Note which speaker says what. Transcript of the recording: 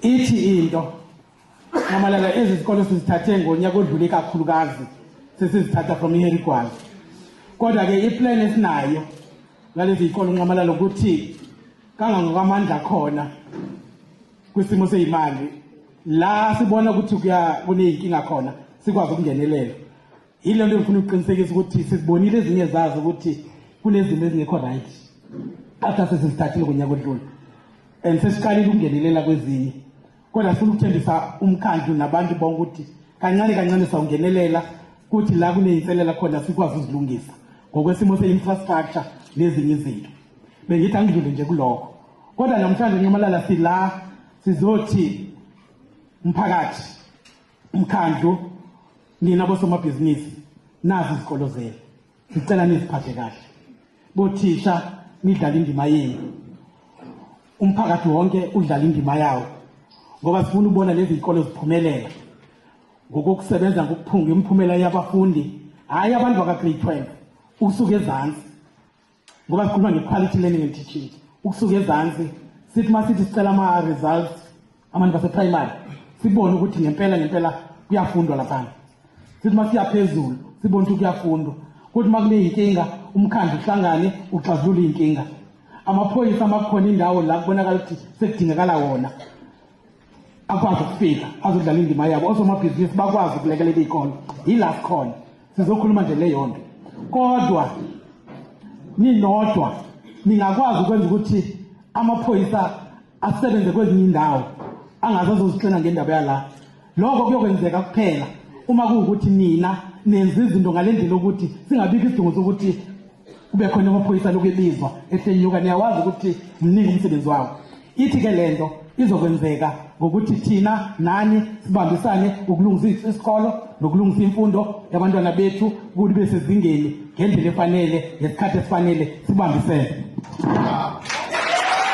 Speaker 1: ithi into mamalala ezi zikole sizithathe ngonyaka odlule kakhulukazi sesizithatha from iherigwazi kodwa ke iplan esinayo ngalezi zikole unqamalala ukuthi kangangokwamandla khona kwisimo seyimali la sibona ukuthi kuya kuneyinkinga khona sikwazi ukungenelela Yilo nto ngifuna ukuqinisekisa ukuthi sizibonile ezinye zazo ukuthi kunezinto ezingekho right after sesizithathile ngonyaka odlule and sesiqalile ukungenelela kwezinye kodwa sifuna ukuthembisa umkhandlu nabantu bonke ukuthi kancane kancane sawungenelela kuthi la kuneyinselela khona sikwazi uzilungisa ngokwesimo se-infrastructure nezinye izinto bengithi angidlule nje kulokho kodwa namhlanje nxamalala sila sizothi mphakathi umkhandlu nina bosomabhizinisi nazi izikolo zenu ngicela niziphathe kahle bothisha nidlala indima yenu umphakathi wonke udlala indima yawo ngoba sifuna ukubona lezi zikole ziphumelela ngokokusebenza ngokuphunga imiphumela yabafundi hhayi abantu baka-grade 12 usuke ezansi ngoba sikhuluma nge-quality learning and teaching ukusuka ezansi sithi uma sithi sicela ama-results abantu baseprimary sibone ukuthi ngempela ngempela kuyafundwa laphana sithi uma siya phezulu sibone ukuthi kuyafundwa kuthi uma kuneyinkinga umkhandlu uhlangane uxazulule iy'nkinga amaphoyisa amakhona indawo la kubonakala ukuthi sekudingakala wona akwazi ukufika azodlala indima yabo osomabhizinisi bakwazi ukulekelela iy'kole yila sikhona sizokhuluma nje leyo nto kodwa ninodwa ningakwazi ukwenza ukuthi amaphoyisa asebenze kwezinye indawo angaze azozixina ngendaba yala lokho kuyokwenzeka kuphela uma kuwukuthi nina nenza izinto ngale ndlela ukuthi singabikho isidingo sokuthi kube khona amaphoyisa lokhu ebizwa ehlenyuka niyawazi ukuthi mningi umsebenzi wawo ithi-ke le nto izokwenzeka ngokuthi thina nani sibambisane ukulungisa isikolo nokulungisa imfundo yabantwana bethu ukuthi be sezingeni ngendlela efanele ngesikhathi esifanele sibambisene